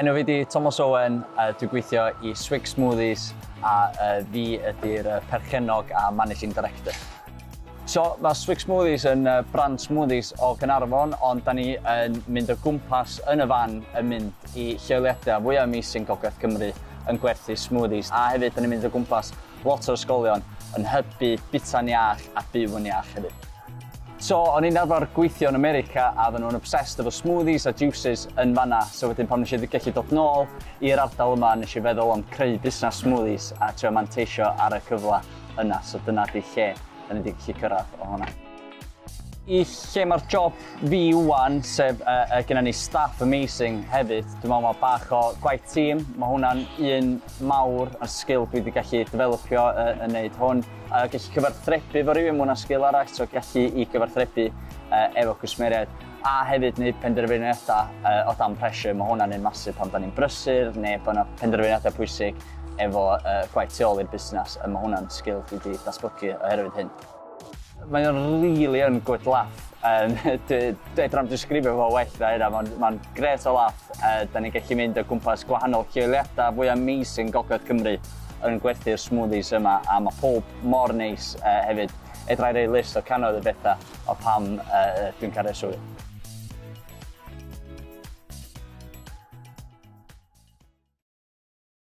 Enw fi di Tomos Owen, a dwi gweithio i Swig Smoothies, a uh, fi ydy'r uh, perchennog a managing director. So, mae Swig Smoothies yn uh, brand smoothies o Gynarfon, ond da ni yn mynd o gwmpas yn y fan yn mynd i lleoliadau fwyaf amazing Gogledd Cymru yn gwerthu smoothies. A hefyd, da ni'n mynd o gwmpas Lot o ysgolion yn hybu bita'n iach a byw yn iach hefyd. So, o'n i'n arfer gweithio yn America a oedden nhw'n obsessed efo smoothies a juices yn fan'na, so wedyn pan wnes i gallu dod nôl i'r ardal yma nes i feddwl am creu busnes smoothies a trio manteisio ar y cyfle yna, so dyna 'di lle 'dan ni 'di gallu cyrraedd o hwnna. i lle mae'r job fi wan, sef uh, uh, gyda ni staff amazing hefyd. Dwi'n meddwl mae bach o gwaith tîm, mae hwnna'n un mawr ar sgil dwi wedi gallu developio uh, yn neud hwn. A uh, gallu cyfarthrebu fo rhywun, mae hwnna'n sgil arall, so gallu i gyfarthrebu uh, efo cwsmeriaid. A hefyd wneud penderfyniadau uh, o dan pressure, mae hwnna'n un masif pan da ni'n brysur neu bod yna penderfyniadau pwysig efo uh, gwaith tu ôl i'r busnes, a mae hwnna'n sgil dwi wedi datblygu oherwydd hyn. Mae o'n rili yn good laugh. Um, Dweud rhan disgrifio fo well na hynna, mae'n ma gret o laugh. Uh, da ni'n gallu mynd o gwmpas gwahanol lleoliadau fwy amazing Gogledd Cymru yn gwerthu'r smoothies yma a mae pob mor neis uh, hefyd. Edrai'r ei list o canoedd y bethau o pam uh, dwi'n cael ei swydd.